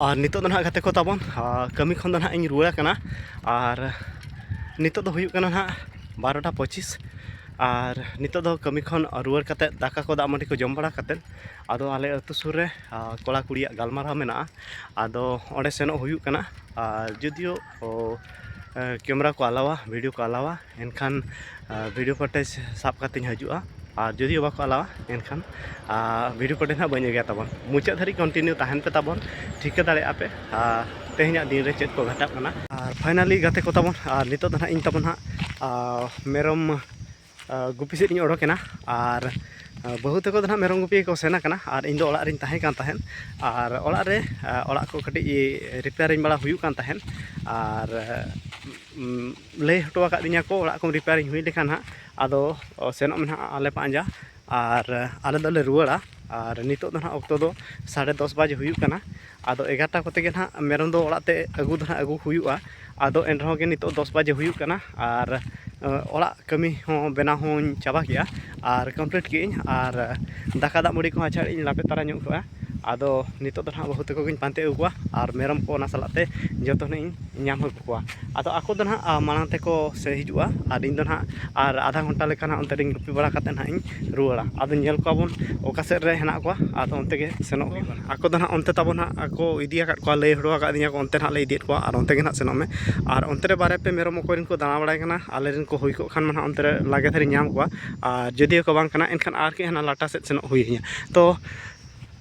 ᱟᱨ ᱱᱤᱛᱚᱜ ᱫᱚ ᱱᱟᱦᱟᱜ ᱜᱟᱛᱮ ᱠᱚ ᱛᱟᱵᱚᱱ ᱠᱟᱹᱢᱤ ᱠᱷᱚᱱ ᱫᱚ ᱱᱟᱦᱟᱜ ᱤᱧ ᱨᱩᱣᱟᱹᱲ ᱠᱟᱱᱟ ᱟᱨ ᱱᱤᱛᱚᱜ ᱫᱚ ᱦᱩᱭᱩᱜ ᱠᱟᱱᱟ ᱱᱟᱦᱟᱜ ᱵᱟᱨᱚᱴᱟ ᱯᱚᱸᱪᱤᱥ ᱟᱨ ᱱᱤᱛᱚᱜ ᱫᱚ ᱠᱟᱹᱢᱤ ᱠᱷᱚᱱ ᱨᱩᱣᱟᱹᱲ ᱠᱟᱛᱮᱫ ᱫᱟᱠᱟ ᱠᱚ ᱫᱟᱜ ᱢᱟᱹᱰᱤ ᱠᱚ ᱡᱚᱢ ᱵᱟᱲᱟ ᱠᱟᱛᱮᱫ ᱟᱫᱚ ᱟᱞᱮ ᱟᱹᱛᱩ ᱥᱩᱨ ᱨᱮ ᱠᱚᱲᱟ ᱠᱩᱲᱤᱭᱟᱜ ᱜᱟᱞᱢᱟᱨᱟᱣ ᱢᱮᱱᱟᱜᱼᱟ ᱟᱫᱚ ᱚᱸᱰᱮ ᱥᱮᱱᱚᱜ ᱦᱩᱭᱩᱜ ᱠᱟᱱᱟ ᱟᱨ ᱡᱩᱫᱤᱭᱳ ᱛᱚ ᱠᱮᱢᱮᱨᱟ ᱠᱚ ᱟᱞᱟᱣᱟ ᱵᱷᱤᱰᱤᱭᱳ ᱠᱚ ᱟᱞᱟᱣᱟ ᱮᱱᱠᱷᱟᱱ ᱵᱷᱤᱰᱤᱭᱳ ᱯᱷᱚᱴᱮᱡᱽ ᱥᱟᱵ ᱠᱟᱛᱮᱧ ᱦᱤᱡᱩᱜᱼᱟ ᱟᱨ ᱡᱩᱫᱤ ᱵᱟᱠᱚ ᱟᱞᱟᱣᱟ ᱮᱱᱠᱷᱟᱱ ᱵᱷᱤᱰᱤᱭᱳ ᱯᱷᱚᱴᱮᱡᱽ ᱦᱟᱸᱜ ᱵᱟᱹᱧ ᱟᱹᱜᱩᱭᱟ ᱛᱟᱵᱚᱱ ᱢᱩᱪᱟᱹᱫ ᱫᱷᱟᱹᱨᱤᱡ ᱠᱚᱱᱴᱤᱱᱤᱭᱩ ᱛᱟᱦᱮᱱ ᱯᱮ ᱛᱟᱵᱚᱱ ᱴᱷᱤᱠᱟᱹ ᱫᱟᱲᱮᱭᱟᱜᱼᱟ ᱯᱮ ᱟᱨ ᱛᱮᱦᱮᱧᱟᱜ ᱫᱤᱱ ᱨᱮ ᱪᱮᱫ ᱠᱚ ᱜᱷᱟᱴᱟᱜ ᱠᱟᱱᱟ ᱟᱨ ᱯᱷᱟᱭᱱᱟᱞᱤ ᱜᱟᱛᱮ ᱠᱚ ᱛᱟᱵᱚᱱ ᱟᱨ ᱱᱤᱛᱚᱜ ᱫᱚ ᱦᱟᱸᱜ ᱤᱧ ᱛᱟᱵᱚᱱ ᱦᱟᱸᱜ ᱢᱮᱨᱚᱢ ᱜᱩᱯᱤ ᱥᱮᱫ ᱤᱧ ᱚᱰᱚᱠᱮᱱᱟ ᱟᱨ ᱵᱟᱹᱦᱩ ᱛᱟᱠᱚ ᱫᱚ ᱱᱟᱦᱟᱜ ᱢᱮᱨᱚᱢ ᱜᱩᱯᱤ ᱠᱚ ᱥᱮᱱ ᱟᱠᱟᱱᱟ ᱟᱨ ᱤᱧ ᱫᱚ ᱚᱲᱟᱜ ᱨᱤᱧ ᱛᱟᱦᱮᱸ ᱠᱟᱱ ᱛᱟᱦᱮᱸᱫ ᱟᱨ ᱚᱲᱟᱜ ᱨᱮ ᱚᱲᱟᱜ ᱠᱚ ᱠᱟᱹᱴᱤᱡ ᱨᱤᱯᱮᱭᱟᱨᱤᱝ ᱵᱟᱲᱟ ᱦᱩᱭᱩᱜ ᱠᱟᱱ ᱛᱟᱦᱮᱸᱫ ᱟᱨ ᱞᱟᱹᱭ ᱦᱚᱴᱚ ᱟᱠᱟᱫ ᱫᱤᱧᱟ ᱠᱚ ᱚᱲᱟᱜ ᱠᱚ ᱨᱤᱯᱮᱭᱟᱨᱤᱝ ᱦᱩᱭ ᱞᱮᱠᱷᱟᱱ ᱦᱟᱸᱜ ᱟᱫᱚ ᱥᱮᱱᱚᱜ ᱢᱮ ᱱᱟᱦᱟᱜ ᱟᱞᱮ ᱯᱟᱸᱡᱟ ᱟᱨ ᱟᱞᱮ ᱫᱚᱞᱮ ᱨᱩᱣᱟᱹᱲᱟ ᱟᱨ ᱱᱤᱛᱚᱜ ᱫᱚ ᱱᱟᱦᱟᱜ ᱚᱠᱛᱚ ᱫᱚ ᱥᱟᱲᱮ ᱫᱚᱥ ᱵᱟᱡᱮ ᱦᱩᱭᱩᱜ ᱠᱟᱱᱟ ᱟᱫᱚ ᱮᱜᱟᱨᱚᱴᱟ ᱠᱚᱛᱮ ᱜᱮ ᱱᱟᱦᱟᱜ ᱢᱮᱨᱚᱢ ᱫᱚ ᱚᱲᱟᱜ ᱛᱮ ᱟᱹᱜᱩ ᱫᱚ ᱱᱟᱦᱟᱜ ᱟᱹᱜᱩ ᱦᱩᱭᱩᱜᱼᱟ ᱟᱫᱚ ᱮᱱ ᱨᱮᱦᱚᱸ ᱜᱮ ᱱᱤᱛᱚᱜ ᱫᱚᱥ ᱵᱟᱡᱮ ᱦᱩᱭᱩᱜ ᱠᱟᱱᱟ ᱟᱨ ᱚᱲᱟᱜ ᱠᱟᱹᱢᱤ ᱦᱚᱸ ᱵᱮᱱᱟᱣ ᱦᱚᱸᱧ ᱪᱟᱵᱟ ᱠᱮᱜᱼᱟ ᱟᱨ ᱠᱚᱢᱯᱞᱤᱴ ᱠᱮᱜ ᱟᱹᱧ ᱟᱨ ᱫᱟᱠᱟ ᱫᱟᱜ ᱢᱟᱹᱰᱤ ᱠᱚᱦᱚᱸ ᱟᱪᱪᱷᱟ ᱤᱧ ᱞᱟᱯᱮ ᱛᱟᱨᱟ ᱧᱚᱜ ᱠᱟᱜᱼᱟ ᱟᱫᱚ ᱱᱤᱛᱚᱜ ᱫᱚ ᱱᱟᱦᱟᱜ ᱵᱟᱹᱦᱩ ᱛᱟᱠᱚ ᱜᱮᱧ ᱯᱟᱱᱛᱮ ᱟᱹᱜᱩ ᱠᱚᱣᱟ ᱟᱨ ᱢᱮᱨᱚᱢ ᱠᱚ ᱚᱱᱟ ᱥᱟᱞᱟᱜ ᱛᱮ ᱡᱚᱛᱚ ᱱᱟᱦᱟᱜ ᱤᱧ ᱧᱟᱢ ᱟᱹᱜᱩ ᱠᱚᱣᱟ ᱠᱚᱣᱟ ᱟᱫᱚ ᱟᱠᱚ ᱫᱚ ᱱᱟᱦᱟᱜ ᱢᱟᱲᱟᱝ ᱛᱮᱠᱚ ᱥᱮᱱ ᱦᱤᱡᱩᱜᱼᱟ ᱟᱨ ᱤᱧ ᱫᱚ ᱱᱟᱦᱟᱜ ᱟᱨ ᱟᱫᱷᱟ ᱜᱷᱚᱱᱴᱟ ᱞᱮᱠᱟ ᱱᱟᱦᱟᱜ ᱚᱱᱛᱮ ᱨᱮᱧ ᱜᱩᱯᱤ ᱵᱟᱲᱟ ᱠᱟᱛᱮᱫ ᱱᱟᱦᱟᱜ ᱤᱧ ᱨᱩᱣᱟᱹᱲᱟ ᱟᱫᱚ ᱧᱮᱞ ᱠᱚᱣᱟ ᱵᱚᱱ ᱚᱠᱟ ᱥᱮᱫ ᱨᱮ ᱦᱮᱱᱟᱜ ᱠᱚᱣᱟ ᱟᱫᱚ ᱚᱱᱛᱮ ᱜᱮ ᱥᱮᱱᱚᱜ ᱦᱩᱭᱩᱜᱼᱟ ᱟᱠᱚ ᱫᱚ ᱱᱟᱦᱟᱜ ᱚᱱᱛᱮ ᱛᱟᱵᱚᱱ ᱦᱟᱸᱜ ᱟᱠᱚ ᱤᱫᱤ ᱟᱠᱟᱫ ᱠᱚᱣᱟ ᱞᱟᱹᱭ ᱦᱚᱴᱚ ᱟᱠᱟᱫᱤᱧᱟᱹ ᱠᱚ ᱚᱱᱛᱮ ᱱᱟᱦᱟᱜ ᱞᱮ ᱤᱫᱤᱭᱮᱫ ᱠᱚᱣᱟ ᱟᱨ ᱚᱱᱛᱮ ᱜᱮ ᱱᱟᱦᱟᱜ ᱥᱮᱱᱚᱜ ᱢᱮ ᱟᱨ ᱚᱱᱛᱮ ᱨᱮ ᱵᱟᱨᱭᱟ ᱯᱮᱭᱟ ᱢᱮᱨᱚᱢ ᱚᱠᱚᱭ ᱨᱮᱱ ᱠᱚ ᱫᱟᱬᱟ ᱵᱟᱲᱟᱭ ᱠᱟᱱᱟ ᱟᱞᱮ ᱨᱮᱱ ᱠᱚ ᱦᱩᱭ ᱠᱚᱜ ᱠᱷᱟᱱ ᱢᱟ ᱱᱟᱦᱟᱜ ᱚᱱᱛᱮ ᱨᱮ ᱞᱟᱜᱮ ᱫᱷᱟᱨᱟᱧ ᱧᱟᱢ ᱠᱚᱣᱟ ᱟᱨ ᱡᱩᱫᱤ ᱠᱚ ᱵᱟᱝ ᱠᱟᱱᱟ ᱮᱱᱠᱷᱟᱱ ᱟᱨ ᱠᱟᱹᱡ ᱦᱟᱱᱟ ᱞᱟᱴᱟ ᱥᱮᱫ ᱥᱮᱱᱚᱜ ᱦᱩᱭ ᱤᱧᱟᱹ ᱛᱚ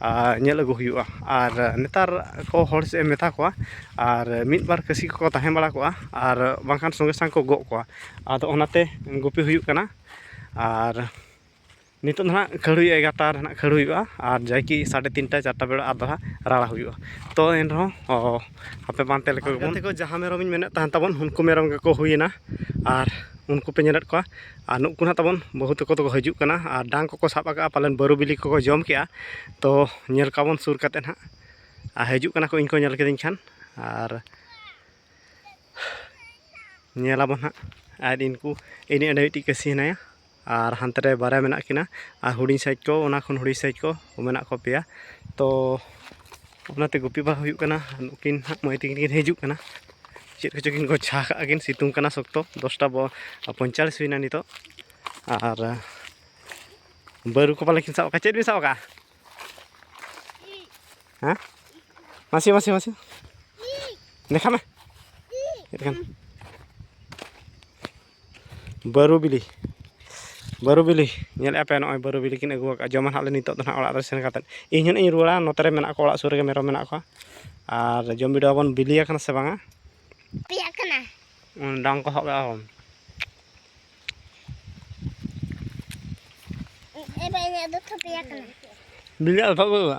ᱟᱨ ᱧᱮᱞ ᱟᱹᱜᱩ ᱦᱩᱭᱩᱜᱼᱟ ᱟᱨ ᱱᱮᱛᱟᱨ ᱠᱚ ᱦᱚᱲ ᱥᱮᱫ ᱮᱢ ᱢᱮᱛᱟ ᱠᱚᱣᱟ ᱟᱨ ᱢᱤᱫ ᱵᱟᱨ ᱠᱟᱹᱥᱤ ᱠᱚᱠᱚ ᱛᱟᱦᱮᱸ ᱵᱟᱲᱟ ᱠᱚᱜᱼᱟ ᱟᱨ ᱵᱟᱝᱠᱷᱟᱱ ᱥᱚᱸᱜᱮ ᱥᱟᱝ ᱠᱚ ᱜᱚᱜ ᱠᱚᱣᱟ ᱟᱫᱚ ᱚᱱᱟᱛᱮ ᱜᱩᱯᱤ ᱦᱩᱭᱩᱜ ᱠᱟᱱᱟ ᱟᱨ ᱱᱤᱛᱚᱜ ᱫᱚ ᱦᱟᱸᱜ ᱠᱷᱟᱹᱲ ᱦᱩᱭᱩᱜᱼᱟ ᱮᱜᱟᱨᱚᱴᱟ ᱨᱮ ᱦᱟᱸᱜ ᱠᱷᱟᱹᱲ ᱦᱩᱭᱩᱜᱼᱟ ᱟᱨ ᱡᱟᱭ ᱠᱤ ᱥᱟᱲᱮ ᱛᱤᱱᱴᱟ ᱪᱟᱨᱴᱟ ᱵᱮᱲᱟ ᱟᱫᱚ ᱦᱟᱸᱜ ᱨᱟᱲᱟ ᱦᱩᱭᱩᱜᱼᱟ ᱛᱚ ᱮᱱ ᱨᱮᱦᱚᱸ ᱟᱯᱮ ᱯᱟᱱᱛᱮ ᱞᱮᱠᱚ ᱜᱮᱵᱚᱱ ᱜᱟᱛᱮ ᱠᱚ ᱡᱟᱦᱟᱸ ᱢᱮᱨᱚᱢ ᱤᱧ ᱢᱮᱱᱮᱫ ᱛᱟᱦᱮᱱ ᱛᱟᱵᱚᱱ ᱩᱱᱠᱩ ᱢᱮᱨᱚᱢ ᱜᱮᱠᱚ ᱦᱩᱭᱮᱱᱟ ᱟᱨ ᱩᱱᱠᱩ ᱯᱮ ᱧᱮᱞᱮᱫ ᱠᱚᱣᱟ ᱟᱨ ᱱᱩᱠᱩ ᱱᱟᱦᱟᱜ ᱛᱟᱵᱚᱱ ᱵᱟᱹᱦᱩ ᱛᱟᱠᱚ ᱫᱚᱠᱚ ᱦᱤᱡᱩᱜ ᱠᱟᱱᱟ ᱟᱨ ᱰᱟᱝ ᱠᱚᱠᱚ ᱥᱟᱵ ᱟᱠᱟᱫᱼᱟ ᱯᱟᱞᱮᱱ ᱵᱟᱹᱨᱩ ᱵᱤᱞᱤ ᱠᱚᱠᱚ ᱡᱚᱢ ᱠᱮᱫᱼᱟ ᱛᱚ ᱧᱮᱞ ᱠᱚᱣᱟ ᱵᱚᱱ ᱥᱩᱨ ᱠᱟᱛᱮᱫ ᱱᱟᱦᱟᱜ ᱟᱨ ᱦᱤᱡᱩᱜ ᱠᱟᱱᱟ ᱠᱚ ᱤᱧ ᱠᱚ ᱧᱮᱞ ᱠᱤᱫᱤᱧ ᱠᱷᱟᱱ ᱟᱨ ᱧᱮᱞ ᱟᱵᱚᱱ ᱱᱟᱦᱟᱜ ᱟᱨ ᱤᱱᱠᱩ ᱤᱱᱤ ᱚᱸᱰᱮ ᱢᱤᱫᱴᱤᱡ ᱠᱟᱹᱥᱤ ᱦᱮᱱᱟᱭᱟ ᱟᱨ ᱦᱟᱱᱛᱮ ᱨᱮ ᱵᱟᱨᱭᱟ ᱢᱮᱱᱟᱜ ᱠᱤᱱᱟ ᱟᱨ ᱦᱩᱰᱤᱧ ᱥᱟᱭᱤᱡ ᱠᱚ ᱚᱱᱟ ᱠᱷᱚᱱ ᱦᱩᱰᱤᱧ ᱥᱟᱭᱤᱡ ᱠᱚ ᱢᱮᱱᱟᱜ ᱠᱚᱣᱟ ᱯᱮᱭᱟ ᱛᱚ ᱚᱱᱟᱛᱮ ᱜᱩᱯᱤ ᱵᱟᱝ ᱦᱩᱭᱩᱜ ᱠᱟᱱᱟ ᱱᱩᱠᱤᱱ ᱦᱟᱸᱜ ᱢᱟᱹᱭ ᱛᱟᱹᱠᱤᱱ ᱠᱤᱱ ᱦᱤᱡᱩᱜ ᱠᱟᱱᱟ ᱪᱮᱫ ᱠᱚᱪᱚ ᱠᱤᱱ ᱜᱚᱪᱷᱟ ᱠᱟᱜᱼᱟ ᱠᱤᱱ ᱥᱤᱛᱩᱝ ᱠᱟᱱᱟ ᱥᱚᱠᱛᱚ ᱫᱚᱥᱴᱟ ᱯᱚᱧᱪᱟᱞᱤᱥ ᱦᱩᱭᱱᱟ ᱱᱤᱛᱚᱜ ᱟᱨ ᱵᱟᱹᱨᱩ ᱠᱚ ᱯᱟᱞᱮ ᱠᱤᱱ ᱥᱟᱵ ᱟᱠᱟᱫ ᱪᱮᱫ ᱵᱤᱱ ᱥᱟᱵ ᱟᱠᱟᱫᱼᱟ ᱦᱮᱸ ᱢᱟᱥᱮ ᱢᱟᱥᱮ ᱢᱟᱥᱮ ᱫᱮᱠᱷᱟ ᱢᱮ ᱪᱮᱫ ᱠᱟᱱᱟ ᱵᱟᱹᱨᱩ ᱵᱤᱞᱤ ᱵᱟᱹᱨᱩ ᱵᱤᱞᱤ ᱧᱮᱞᱮᱫ ᱟᱯᱮ ᱱᱚᱜᱼᱚᱭ ᱵᱟᱹᱨᱩ ᱵᱤᱞᱤ ᱠᱤᱱ ᱟᱹᱜᱩ ᱟᱠᱟᱫᱼᱟ ᱡᱚᱢᱟ ᱦᱟᱸᱜ ᱞᱮ ᱱᱤᱛᱚᱜ ᱫᱚ ᱦᱟᱸᱜ ᱚᱲᱟᱜ ᱨᱮ ᱥᱮᱱ ᱠᱟᱛᱮᱫ ᱤᱧ ᱦᱟᱸᱜ ᱤᱧ ᱨᱩᱣᱟᱹᱲᱟ ᱱᱚᱛᱮ ᱨᱮ ᱢᱮᱱᱟᱜ ᱠᱚᱣᱟ ᱚᱲᱟᱜ ᱥᱩᱨ ᱨᱮᱜᱮ ᱢᱮᱨᱚᱢ ᱢᱮᱱᱟᱜ ᱠᱚᱣᱟ ᱟᱨ ᱡᱚᱢ ᱵᱤᱰᱟᱹᱣ ᱟᱵᱚᱱ ᱵᱤᱞᱤ ᱟᱠᱟᱱᱟ ᱥᱮ ᱵᱟᱝᱟ ᱯᱮᱭᱟᱜ ᱠᱟᱱᱟ ᱰᱟᱝ ᱠᱚ ᱥᱟᱵ ᱠᱟᱜᱼᱟ ᱵᱤᱞᱤ ᱟᱞᱯᱷᱟ ᱵᱟᱹᱱᱩᱜᱼᱟ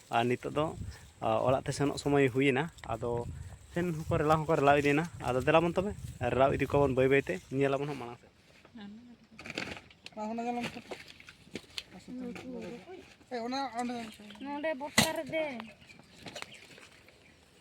ᱟᱨ ᱱᱤᱛᱚᱜ ᱫᱚ ᱚᱲᱟᱜ ᱛᱮ ᱥᱮᱱᱚᱜ ᱥᱚᱢᱚᱭ ᱦᱩᱭᱮᱱᱟ ᱟᱫᱚ ᱥᱮᱱ ᱦᱚᱸᱠᱚ ᱨᱮᱞᱟᱣ ᱦᱚᱸᱠᱚ ᱨᱮᱞᱟᱣ ᱤᱫᱤᱭᱮᱱᱟ ᱟᱫᱚ ᱫᱮᱞᱟᱵᱚᱱ ᱛᱚᱵᱮ ᱨᱮᱞᱟᱣ ᱤᱫᱤ ᱠᱚᱣᱟᱵᱚᱱ ᱵᱟᱹᱭ ᱵᱟᱹᱭᱛᱮ ᱧᱮᱞᱟᱵᱚᱱ ᱦᱟᱸᱜ ᱢᱟᱲᱟᱝ ᱥᱮᱫ ᱚᱱᱟ ᱚᱸᱰᱮ ᱵᱚᱨᱥᱟ ᱨᱮ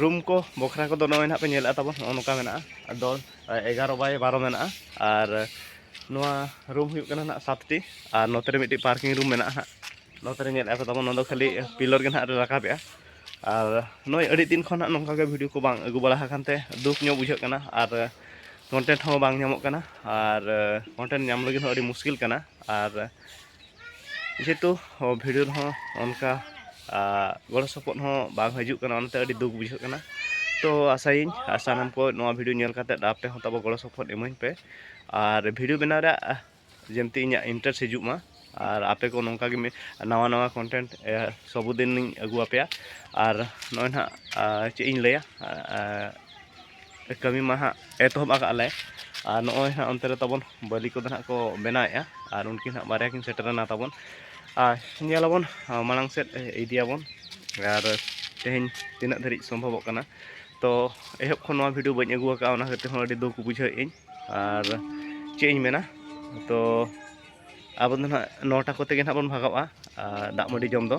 ᱨᱩᱢ ᱠᱚ ᱵᱚᱠᱷᱨᱟ ᱠᱚᱫᱚ ᱱᱚᱜᱼᱚᱭ ᱱᱟᱦᱟᱜ ᱯᱮ ᱧᱮᱞᱮᱫᱼᱟ ᱛᱟᱵᱚᱱ ᱱᱚᱜᱼᱚ ᱱᱚᱝᱠᱟ ᱢᱮᱱᱟᱜᱼᱟ ᱟᱫᱚ ᱮᱜᱟᱨᱚ ᱵᱟᱭ ᱵᱟᱨᱚ ᱢᱮᱱᱟᱜᱼᱟ ᱟᱨ ᱱᱚᱣᱟ ᱨᱩᱢ ᱦᱩᱭᱩᱜ ᱠᱟᱱᱟ ᱱᱟᱦᱟᱜ ᱥᱟᱛᱴᱤ ᱟᱨ ᱱᱚᱛᱮ ᱨᱮ ᱢᱤᱫᱴᱤᱡ ᱯᱟᱨᱠᱤᱝ ᱨᱩᱢ ᱢᱮᱱᱟᱜᱼᱟ ᱦᱟᱸᱜ ᱱᱚᱛᱮ ᱨᱮ ᱧᱮᱞᱮᱫᱼᱟ ᱯᱮ ᱛᱟᱵᱚᱱ ᱱᱚᱣᱟ ᱫᱚ ᱠᱷᱟᱹᱞᱤ ᱯᱤᱞᱚᱨ ᱜᱮ ᱱᱟᱦᱟᱜ ᱞᱮ ᱨᱟᱠᱟᱵᱮᱜᱼᱟ ᱟᱨ ᱱᱚᱜᱼᱚᱭ ᱟᱹᱰᱤ ᱫᱤᱱ ᱠᱷᱚᱱ ᱱᱟᱦᱟᱜ ᱱᱚᱝᱠᱟ ᱜᱮ ᱵᱷᱤᱰᱤᱭᱳ ᱠᱚ ᱵᱟᱝ ᱟᱹᱜᱩ ᱵᱟᱲᱟ ᱟᱠᱟᱱ ᱛᱮ ᱫᱩᱠ ᱧᱚᱜ ᱵᱩᱡᱷᱟᱹᱜ ᱠᱟᱱᱟ ᱟᱨ ᱠᱚᱱᱴᱮᱱᱴ ᱦᱚᱸ ᱵᱟᱝ ᱧᱟᱢᱚᱜ ᱠᱟᱱᱟ ᱟᱨ ᱠᱚᱱᱴᱮᱱᱴ ᱧᱟᱢ ᱞᱟᱹᱜᱤᱫ ᱦᱚᱸ ᱟᱹᱰᱤ ᱢᱩᱥᱠᱤᱞ ᱠᱟᱱᱟ ᱟᱨ ᱡᱮᱦᱮᱛᱩ ᱵᱷᱤᱰᱤᱭᱳ ᱨᱮᱦᱚᱸ ᱚᱱᱠᱟ ᱜᱚᱲᱚ ᱥᱚᱯᱚᱦᱚᱫ ᱦᱚᱸ ᱵᱟᱝ ᱦᱤᱡᱩᱜ ᱠᱟᱱᱟ ᱚᱱᱟᱛᱮ ᱟᱹᱰᱤ ᱫᱩᱠ ᱵᱩᱡᱷᱟᱹᱜ ᱠᱟᱱᱟ ᱛᱚ ᱟᱥᱟᱭᱟᱹᱧ ᱥᱟᱱᱟᱢ ᱠᱚ ᱱᱚᱣᱟ ᱵᱷᱤᱰᱤᱭᱳ ᱧᱮᱞ ᱠᱟᱛᱮ ᱟᱯᱮ ᱦᱚᱸ ᱛᱟᱵᱚ ᱜᱚᱲᱚ ᱥᱚᱯᱚᱦᱚᱫ ᱤᱢᱟᱹᱧ ᱯᱮ ᱟᱨ ᱵᱷᱤᱰᱤᱭᱳ ᱵᱮᱱᱟᱣ ᱨᱮᱭᱟᱜ ᱡᱮᱢᱛᱮ ᱤᱧᱟᱹᱜ ᱤᱱᱴᱟᱨᱮᱥᱴ ᱦᱤᱡᱩᱜ ᱢᱟ ᱟᱨ ᱟᱯᱮ ᱠᱚ ᱱᱚᱝᱠᱟ ᱜᱮ ᱱᱟᱣᱟ ᱱᱟᱣᱟ ᱠᱚᱱᱴᱮᱱᱴ ᱥᱚᱵᱚᱫᱤᱱᱤᱧ ᱟᱹᱜᱩ ᱟᱯᱮᱭᱟ ᱟᱨ ᱱᱚᱜᱼᱚᱭ ᱱᱟᱦᱟᱜ ᱪᱮᱫ ᱤᱧ ᱞᱟᱹᱭᱟ ᱠᱟᱹᱢᱤ ᱢᱟ ᱦᱟᱸᱜ ᱮᱛᱚᱦᱚᱵ ᱟᱠᱟᱫ ᱞᱮ ᱟᱨ ᱱᱚᱜᱼᱚᱭ ᱦᱟᱸᱜ ᱚᱱᱛᱮ ᱨᱮ ᱛᱟᱵᱚᱱ ᱵᱟᱹᱞᱤ ᱠᱚᱫᱚ ᱦᱟᱸᱜ ᱠᱚ ᱵᱮᱱᱟᱣᱮᱫᱼᱟ ᱟᱨ ᱩᱱᱠᱤᱱ ᱦᱟᱸᱜ ᱵᱟᱨᱭᱟ ᱠᱤᱱ ᱥᱮᱴᱮᱨᱮᱱᱟ ᱛᱟᱵᱚᱱ ᱟᱨ ᱧᱮᱞᱟᱵᱚᱱ ᱢᱟᱲᱟᱝ ᱥᱮᱫ ᱤᱫᱤᱭᱟᱵᱚᱱ ᱟᱨ ᱛᱮᱦᱮᱧ ᱛᱤᱱᱟᱹᱜ ᱫᱷᱟᱹᱨᱤᱡ ᱥᱚᱢᱵᱷᱚᱵᱚᱜ ᱠᱟᱱᱟ ᱛᱚ ᱮᱦᱚᱵ ᱠᱷᱚᱱ ᱱᱚᱣᱟ ᱵᱷᱤᱰᱤᱭᱳ ᱵᱟᱹᱧ ᱟᱹᱜᱩ ᱟᱠᱟᱫᱼᱟ ᱚᱱᱟ ᱠᱷᱟᱹᱛᱤᱨ ᱦᱚᱸ ᱟᱹᱰᱤ ᱫᱩᱠ ᱵᱩᱡᱷᱟᱹᱣᱮᱫ ᱟᱹᱧ ᱟᱨ ᱪᱮᱫ ᱤᱧ ᱢᱮᱱᱟ ᱛᱚ ᱟᱵᱚ ᱫᱚ ᱱᱟᱦᱟᱜ ᱱᱚᱴᱟ ᱠᱚᱛᱮ ᱜᱮ ᱱᱟᱦᱟᱜ ᱵᱚᱱ ᱵᱷᱟᱜᱟᱜᱼᱟ ᱫᱟᱜ ᱢᱟᱹᱰᱤ ᱡᱚᱢ ᱫᱚ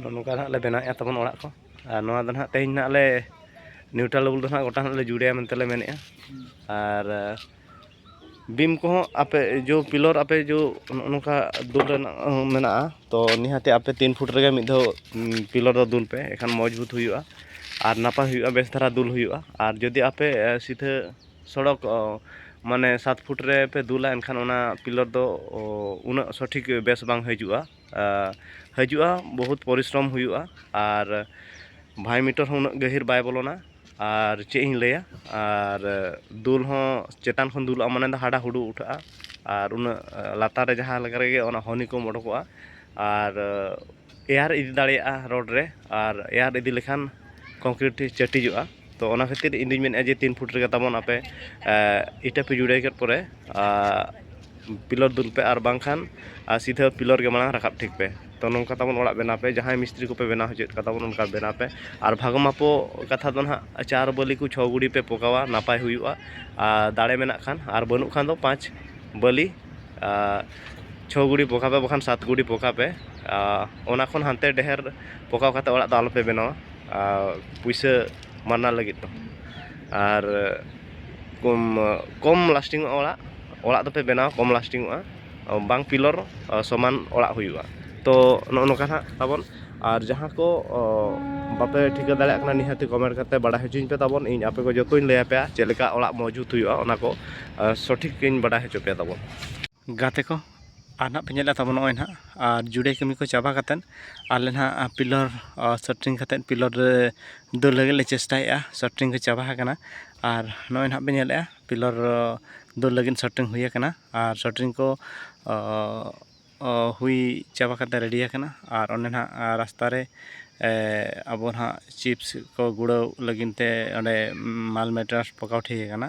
ᱱᱚᱝᱠᱟ ᱱᱟᱦᱟᱜ ᱞᱮ ᱵᱮᱱᱟᱣᱮᱫᱼᱟ ᱛᱟᱵᱚᱱ ᱚᱲᱟᱜ ᱠᱚ ᱟᱨ ᱱᱚᱣᱟ ᱫᱚ ᱱᱟᱦᱟᱜ ᱛᱮᱦᱮᱧ ᱱᱟᱦᱟᱜ ᱞᱮ ᱱᱤᱭᱩᱴᱨᱟᱞ ᱞᱮᱵᱮᱞ ᱫᱚ ᱱᱟᱦᱟᱜ ᱜᱚᱴᱟ ᱱᱟᱦᱟᱜ ᱞᱮ ᱡᱩᱲᱮᱭᱟ ᱢᱮᱱᱛᱮ ᱞᱮ ᱢᱮᱱᱮᱫᱼᱟ ᱟᱨ ᱵᱤᱢ ᱠᱚᱦᱚᱸ ᱟᱯᱮ ᱡᱳ ᱯᱤᱞᱚᱨ ᱟᱯᱮ ᱡᱳ ᱱᱚᱜᱼᱚ ᱱᱚᱝᱠᱟ ᱫᱩᱞ ᱨᱮᱱᱟᱜ ᱦᱚᱸ ᱢᱮᱱᱟᱜᱼᱟ ᱛᱚ ᱱᱤᱦᱟᱹᱛᱤ ᱟᱯᱮ ᱛᱤᱱ ᱯᱷᱩᱴ ᱨᱮᱜᱮ ᱢᱤᱫ ᱫᱷᱟᱣ ᱯᱤᱞᱚᱨ ᱫᱚ ᱫᱩᱞ ᱯᱮ ᱮᱱᱠᱷᱟᱱ ᱢᱚᱡᱽᱵᱩᱛ ᱦᱩᱭᱩᱜᱼᱟ ᱟᱨ ᱱᱟᱯᱟᱭ ᱦᱩᱭᱩᱜᱼᱟ ᱵᱮᱥ ᱫᱷᱟᱨᱟ ᱫᱩᱞ ᱦᱩᱭᱩᱜᱼᱟ ᱟᱨ ᱡᱩᱫᱤ ᱟᱯᱮ ᱥᱤᱫᱷᱟᱹ ᱥᱚᱲᱚᱠ ᱢᱟᱱᱮ ᱥᱟᱛ ᱯᱷᱩᱴ ᱨᱮᱯᱮ ᱫᱩᱞᱟ ᱮᱱᱠᱷᱟᱱ ᱚᱱᱟ ᱯᱤᱞᱚᱨ ᱫᱚ ᱩᱱᱟᱹᱜ ᱥᱚᱴᱷᱤᱠ ᱵᱮᱥ ᱵᱟᱝ ᱦᱤᱡᱩᱜᱼᱟ ᱦᱤᱡᱩᱜᱼᱟ ᱵᱚᱦᱩᱛ ᱯᱚᱨᱤᱥᱨᱚᱢ ᱦᱩᱭᱩᱜᱼᱟ ᱟᱨ ᱵᱷᱟᱭ ᱢᱤᱴᱚᱨ ᱦᱚᱸ ᱩᱱᱟᱹᱜ ᱜᱟᱹᱦᱤᱨ ᱵᱟᱭ ᱵᱚᱞᱚᱱᱟ ᱟᱨ ᱪᱮᱫ ᱤᱧ ᱞᱟᱹᱭᱟ ᱟᱨ ᱫᱩᱞ ᱦᱚᱸ ᱪᱮᱛᱟᱱ ᱠᱷᱚᱱ ᱫᱩᱞᱚᱜᱼᱟ ᱢᱟᱱᱮ ᱫᱚ ᱦᱟᱰᱟ ᱦᱩᱰᱩ ᱩᱴᱷᱟᱹᱜᱼᱟ ᱟᱨ ᱩᱱᱟᱹᱜ ᱞᱟᱛᱟᱨ ᱨᱮ ᱡᱟᱦᱟᱸ ᱞᱮᱠᱟ ᱨᱮᱜᱮ ᱚᱱᱟ ᱦᱚᱱᱤ ᱠᱚᱢ ᱚᱰᱚᱠᱚᱜᱼᱟ ᱟᱨ ᱮᱭᱟᱨ ᱤᱫᱤ ᱫᱟᱲᱮᱭᱟᱜᱼᱟ ᱨᱳᱰ ᱨᱮ ᱟᱨ ᱮᱭᱟᱨ ᱤᱫᱤ ᱞᱮᱠᱷᱟᱱ ᱠᱚᱝᱠᱨᱤᱴ ᱪᱟᱹᱴᱤᱡᱚᱜᱼᱟ ᱛᱚ ᱚᱱᱟ ᱠᱷᱟᱹᱛᱤᱨ ᱤᱧ ᱫᱩᱧ ᱢᱮᱱᱮᱫᱼᱟ ᱡᱮ ᱛᱤᱱ ᱯᱷᱩᱴ ᱨᱮᱜᱮ ᱛᱟᱵᱚᱱ ᱟᱯᱮ ᱤᱴᱟᱹ ᱯᱮ ᱡᱩᱲᱟᱹᱭ ᱠᱮᱫ ᱯᱚᱨᱮ ᱯᱤᱞᱟᱨ ᱫᱩᱞ ᱯᱮ ᱟᱨ ᱵᱟᱝᱠᱷᱟᱱ ᱥᱤᱫᱷᱟᱹ ᱯᱤᱞᱟᱨ ᱜᱮ ᱢᱟᱲᱟᱝ ᱨᱟᱠᱟᱵ ᱴᱷᱤᱠ ᱯᱮ ᱛᱚ ᱱᱚᱝᱠᱟ ᱛᱟᱵᱚᱱ ᱚᱲᱟᱜ ᱵᱮᱱᱟᱣ ᱯᱮ ᱡᱟᱦᱟᱸᱭ ᱢᱤᱥᱛᱨᱤ ᱠᱚᱯᱮ ᱵᱮᱱᱟᱣ ᱦᱚᱪᱚᱭᱮᱫ ᱠᱚᱣᱟ ᱛᱟᱵᱚᱱ ᱚᱱᱠᱟ ᱵᱮᱱᱟᱣ ᱯᱮ ᱟᱨ ᱵᱷᱟᱜᱽ ᱢᱟᱯᱚ ᱠᱟᱛᱷᱟ ᱫᱚ ᱱᱟᱦᱟᱜ ᱪᱟᱨ ᱵᱟᱹᱞᱤ ᱠᱚ ᱪᱷᱚ ᱜᱩᱲᱤ ᱯᱮ ᱯᱚᱠᱟᱣᱟ ᱱᱟᱯᱟᱭ ᱦᱩᱭᱩᱜᱼᱟ ᱟᱨ ᱫᱟᱲᱮ ᱢᱮᱱᱟᱜ ᱠᱷᱟᱱ ᱟᱨ ᱵᱟᱹᱱᱩᱜ ᱠᱷᱟᱱ ᱫᱚ ᱯᱟᱸᱪ ᱵᱟᱹᱞᱤ ᱪᱷᱚ ᱜᱩᱲᱤ ᱯᱚᱠᱟ ᱯᱮ ᱵᱟᱠᱷᱟᱱ ᱥᱟᱛ ᱜᱩᱲᱤ ᱯᱚᱠᱟ ᱯᱮ ᱚᱱᱟ ᱠᱷᱚᱱ ᱦᱟᱱᱛᱮ ᱰᱷᱮᱨ ᱯᱚᱠᱟᱣ ᱠᱟᱛᱮᱫ ᱚᱲᱟᱜ ᱫᱚ ᱟᱞᱚ ᱯᱮ ᱵᱮᱱᱟᱣᱟ ᱯᱩᱭᱥᱟᱹ ᱢᱟᱱᱟ ᱞᱟᱹᱜᱤᱫ ᱫᱚ ᱟᱨ ᱠᱚᱢ ᱠᱚᱢ ᱞᱟᱥᱴᱤᱝ ᱚᱜᱼᱟ ᱚᱲᱟᱜ ᱚᱲᱟᱜ ᱫᱚᱯᱮ ᱵᱮᱱᱟᱣᱟ ᱠᱚᱢ ᱞᱟᱥᱴᱤᱝ ᱚᱜᱼᱟ ᱵᱟᱝ ᱯᱤᱞᱚᱨ ᱥᱚᱢᱟᱱ ᱚᱲᱟᱜ ᱦᱩᱭᱩᱜᱼᱟ ᱛᱚ ᱱᱚᱜᱼᱚ ᱱᱚᱝᱠᱟ ᱦᱟᱸᱜ ᱛᱟᱵᱚᱱ ᱟᱨ ᱡᱟᱦᱟᱸ ᱠᱚ ᱵᱟᱯᱮ ᱴᱷᱤᱠᱟᱹ ᱫᱟᱲᱮᱭᱟᱜ ᱠᱟᱱᱟ ᱱᱤᱦᱟᱹᱛ ᱠᱚᱢᱮᱱᱴ ᱠᱟᱛᱮ ᱵᱟᱲᱟᱭ ᱦᱚᱪᱚᱧ ᱯᱮ ᱛᱟᱵᱚᱱ ᱤᱧ ᱟᱯᱮ ᱠᱚ ᱡᱚᱛᱚᱧ ᱞᱟᱹᱭᱟᱯᱮᱭᱟ ᱪᱮᱫ ᱞᱮᱠᱟ ᱚᱲᱟᱜ ᱢᱚᱡᱽ ᱡᱩᱛ ᱦᱩᱭᱩᱜᱼᱟ ᱚᱱᱟ ᱠᱚ ᱥᱚᱴᱷᱤᱠ ᱤᱧ ᱵᱟᱰᱟᱭ ᱦᱚᱪᱚ ᱯᱮᱭᱟ ᱛᱟᱵᱚᱱ ᱜᱟᱛᱮ ᱠᱚ ᱟᱨ ᱱᱟᱦᱟᱜ ᱯᱮ ᱧᱮᱞᱮᱫ ᱛᱟᱵᱚᱱ ᱱᱚᱜᱼᱚᱭ ᱱᱟᱦᱟᱜ ᱟᱨ ᱡᱩᱲᱟᱹᱭ ᱠᱟᱹᱢᱤ ᱠᱚ ᱪᱟᱵᱟ ᱠᱟᱛᱮᱫ ᱟᱞᱮ ᱱᱟᱦᱟᱜ ᱯᱤᱞᱟᱨ ᱥᱮᱴᱨᱤᱝ ᱠᱟᱛᱮᱫ ᱯᱤᱞᱟᱨ ᱨᱮ ᱫᱟᱹᱲ ᱞᱟᱹᱜᱤᱫ ᱞᱮ ᱪᱮᱥᱴᱟᱭᱮᱫᱼᱟ ᱥᱮᱴᱨᱤᱝ ᱠᱚ ᱪᱟᱵᱟ ᱟᱠᱟᱱᱟ ᱟᱨ ᱱᱚᱜᱼᱚᱭ ᱱᱟᱦᱟᱜ ᱯᱮ ᱧᱮᱞᱮᱫᱼᱟ ᱯᱤᱞᱟᱨ ᱫᱟᱹᱲ ᱞᱟᱹᱜᱤᱫ ᱥᱮᱴᱨᱤᱝ ᱦᱩᱭ ᱟᱠᱟᱱᱟ ᱟᱨ ᱥᱮᱴᱨᱤᱝ ᱠᱚ ᱦᱩᱭ ᱪᱟᱵᱟ ᱠᱟᱛᱮᱫ ᱨᱮᱰᱤ ᱟᱠᱟᱱᱟ ᱟᱨ ᱚᱸᱰᱮ ᱱᱟᱦᱟᱜ ᱨᱟᱥᱛᱟ ᱨᱮ ᱟᱵᱚ ᱱᱟᱦᱟᱜ ᱪᱤᱯᱥ ᱠᱚ ᱜᱩᱲᱟᱹᱣ ᱞᱟᱹᱜᱤᱫ ᱛᱮ ᱚᱸᱰᱮ ᱢᱟᱞ ᱢᱮᱴᱮᱨᱤᱭᱟᱞᱥ ᱯᱚᱠᱟᱣ ᱴᱷᱤᱠ ᱟᱠᱟᱱᱟ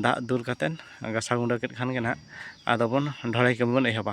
ᱫᱟᱜ ᱫᱩᱞ ᱠᱟᱛᱮᱫ ᱜᱟᱥᱟᱣ ᱜᱩᱰᱟᱹ ᱠᱮᱫ ᱠᱷᱟᱱ ᱜᱮ ᱱᱟᱦᱟᱜ ᱟᱫᱚ ᱵᱚᱱ ᱰᱷᱟᱹᱞᱟᱹᱭ ᱠᱟᱹᱢᱤ ᱵᱚᱱ ᱮᱦᱚᱵᱟ